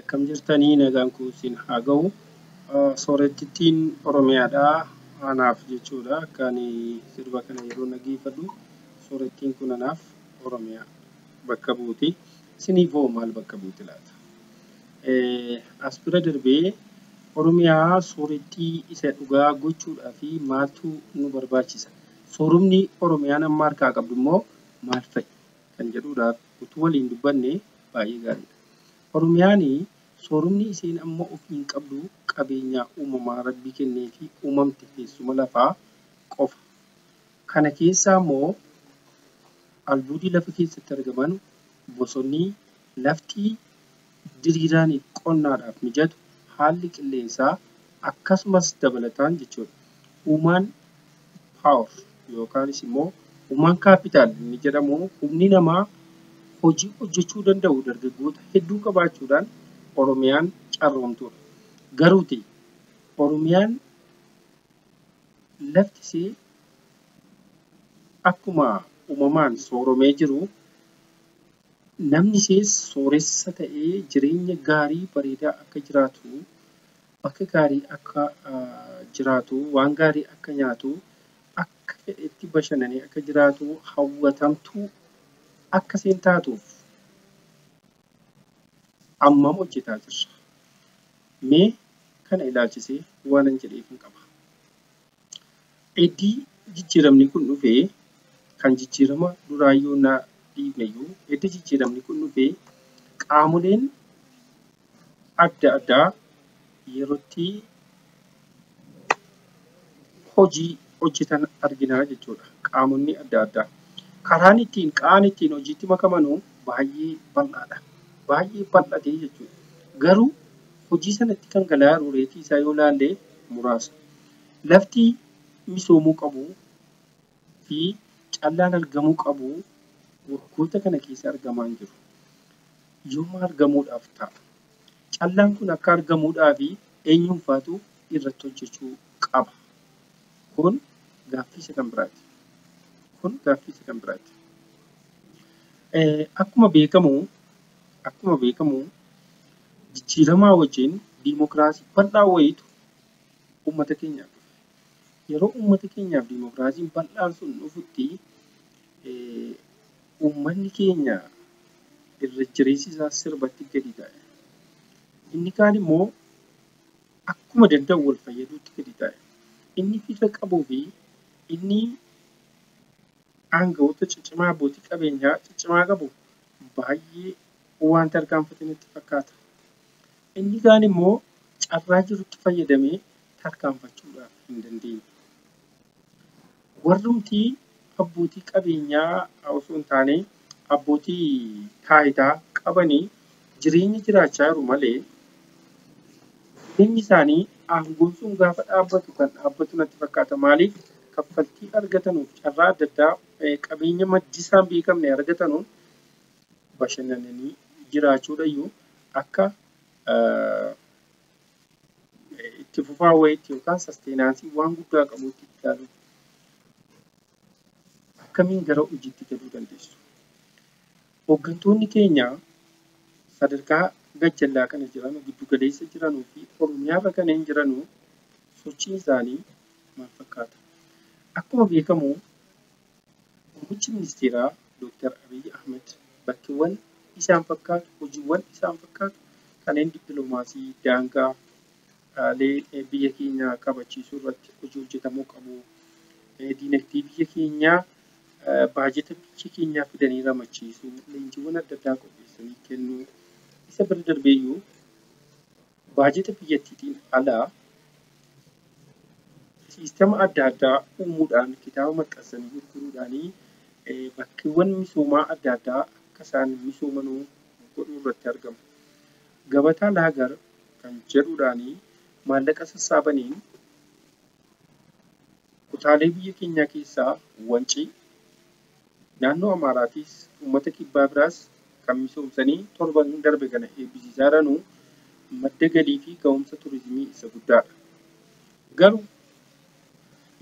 Akkam jirtanii nagaan kun siin haa ga'u. Soorettittiin Oromiyaadhaa anaaf jechuudha akka ani sirba kana yeroo dhageeffadhu soorettiin kun anaaf Oromiyaa bakka buuti. Isiniif hoo maal bakka buuti laata? As bira darbee Oromiyaa soorettii isa dhugaa gochuudhaa fi maaltu nu barbaachisa? Soorumni Oromiyaan amma harkaa qabdu immoo maal fa'i? kan jedhuudhaaf utuu waliin dubbannee baay'ee gaariidha. Oromiyaan soorumni isiin amma ofiin qabdu qabeenyaa uumamaa Rabbi kenneefii uumamte teessuma lafaa qofa. Kana keessaa immoo albuudii lafa keessatti argaman, bosonni, lafti, diriiraan qonnaadhaaf mijatu, haalli qilleensaa, akkasumas dabalataan jechuudha. Human power yookaanis immoo human capital inni jedhamu humni namaa hojii hojjechuu danda'u dargaggoota hedduu qabaachuudhaan Oromiyaan carroomtuudha. Garuuti Oromiyaan lafti isee akkuma uumamaan sooromee jiru Namni sees sooressa ta'ee jireenya gaarii bareedaa akka jiraatu, bakka gaarii akka jiraatu, waan gaarii akka nyaatu, akka fedhetti bashannanee akka jiraatu, hawwatamtuu akka seen taatuuf ammam hojjetaa jirra? Mee kana ilaalchisee waanan jedheefin qaba. Eddii jijjiiramni kun dhufe kan jijjiirama duraayyuu na dhiifneyyuu eddi jijjiiramni kun dhufe qaamoleen adda addaa yerootti hojii hojjetan arginaa jechuudha. Qaamonni adda addaa. Karaan ittiin qaan ittiin hojiitti makamanuu baay'ee bal'aadha. Baay'ee bal'atee jechuudha. Garuu hojii sanatti kan galaa jiru reetii isaa yoo laallee muraasa. Lafti misoomuu qabu fi callaan argamuu qabu waggoota kana keessa argamaa hin jiru. Yoom argamuudhaaf ta'a? Callaan kun akka argamuudhaaf eenyuunfaatu irratti hojjechuu qaba? Kun gaaffii isa kan biraati. Kun gaaffii isa kan biraati. Akkuma beekamu akkuma beekamu jijjiiramaa wajjin diimokiraasii bal'aa wayiitu ummata keenyaaf dhufe. Yeroo ummata keenyaaf dimokiraasiin bal'aan sun dhufutti ummanni keenya irra jireessi isaa sirbatti gadi taa'e. Inni kaan immoo akkuma danda'u wal fayyaduutti gadi taa'e. Inni fira qabuu fi inni aanga'oota ciccimaa abbootii qabeenyaa ciccimaa qabu baay'ee waan tarkaanfate natti fakkaata. Inni kaan immoo carraa jirutti fayyadamee tarkaanfachuudhaaf hin dandeenye. Warrumti abbootii qabeenyaa osoo hin taane abbootii taayitaa qabanii jireenya jiraachaa jiru malee jireenyi isaanii aangoon sun gaafa dhaabbatu kan dhaabbatu natti fakkaata. Maaliif kaffaltii argatanuuf carraa adda addaa qabeenya maddisaa hin beekamne argatanuun bashannananii jiraachuudhayyuu akka itti fufaa wayiitti yookaan sasteenaansii waan guddaa qabuutti itti ilaaluun akkamiin gara hojiitti galuu dandeessu? Hoggantoonni keenya sadarkaa gajjallaa kana jiranu, giddu galeessa jiranu fi Oromiyaa irra kaneen jiranu sochiin isaanii maal fakkaata? Akkuma beekamu Muummichi Ministeeraa Dooktar Abiy Ahmed bakkeewwan isaan fakkaatu, hojiiwwan isaan fakkaatu kaneen dippilomaasii daangaa Dhaalee biyya keenyaa kabachiisuu irratti hojii hojjetamuu qabu. Diinagdee biyya keenyaa baajeta biyya keenyaa fidanii ramachiisuu, leenjiiwwan adda addaa qopheessanii kennuu, isa bira darbee iyyuu baajeta biyyattiitiin alaa siistama adda addaa uumuudhaan kitaaba maxxansanii gurguruudhaan bakkeewwan misoomaa adda addaa akka isaan misoomanuu godhuu irratti argamu. Gabataa Laagar kan jedhuudhaan maallaqa sassaabaniin kutaalee biyya keenyaa keessaa Wancii, naannoo Amaaraatiis uummata kibbaa biraas kan misoomsanii torban darbe kana eebbisiisaa jiranu madda galiifi gahumsa turizimii isa guddaadha. Garuu.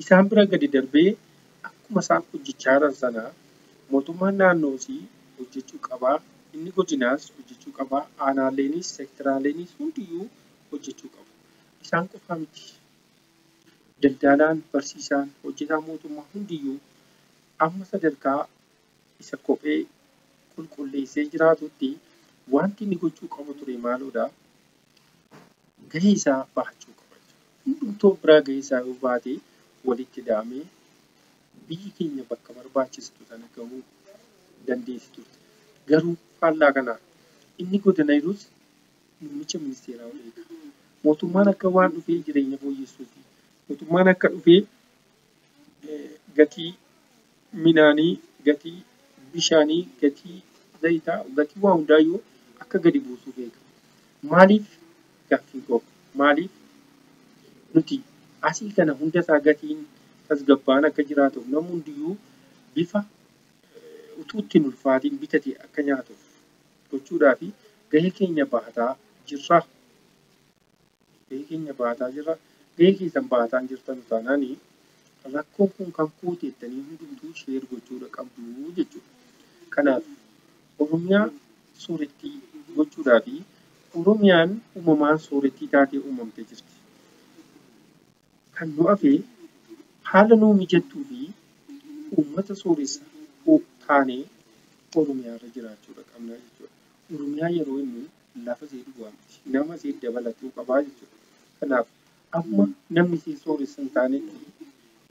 Isaan bira gadi darbee akkuma isaan hojjechaa jiran sana mootummaan naannoos hojjechuu qaba, inni godinaas hojjechuu qaba, aanaaleenis, sekteraaleenis hundiyyuu hojjechuu qabu. Isaan qofaa miti. Daldaalaan, barsiisaan, hojjetaan mootummaa hundiyyuu amma sadarkaa isa kophee qulqulleessee jiraatutti wanti inni gochuu qabu ture maaloodha? Gahee isaa bahachuu qaba jechuudha. Hundumtuu of biraa gahee isaa yoo baate walitti ida'amee biyyi keenya bakka barbaachistu sana gahuu dandeessi turte. Garuu faallaa kanaa inni godana jirus muummicha ministeeraa ol eega. Mootummaan akka waan dhufee jireenya fooyyessuufi mootummaan akka dhufee gatii minaanii, gatii bishaanii, gatii zayitaa, gatii waa hundaayyuu akka gadi buusu beeka. Maaliif gaaffiin koo maaliif nuti asii kana hunda isaa gatiin tasgabbaa'aan akka jiraatuuf namni hundiyyuu bifa utuu itti hin ulfaatiin bitate akka nyaatuuf gochuudhaa fi gahee keenya bahataa jirra. gahee keenya bahataa jirra. Gahee keessan bahataa hin jirtanu taanaan rakkoon kun kan kooti jettanii hundumtuu sheer gochuudha qabdu jechuudha. Kanaaf Oromiyaa soorettii gochuudhaa fi Oromiyaan uumamaan soorettii taatee uumamtee jirti. Kan nu hafe haala nuu mijattuu fi uummata sooressa taanee Oromiyaa irra jiraachuudha qabna jechuudha. Oromiyaa yeroo jennu lafa isii duwwaa miti. Nama isii dabalatuu qabaa jechuudha. Kanaaf amma namni isii sooressa hin taanetti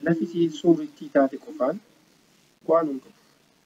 lafi isii soorittii taate qofaan bu'aa nu hin qabu.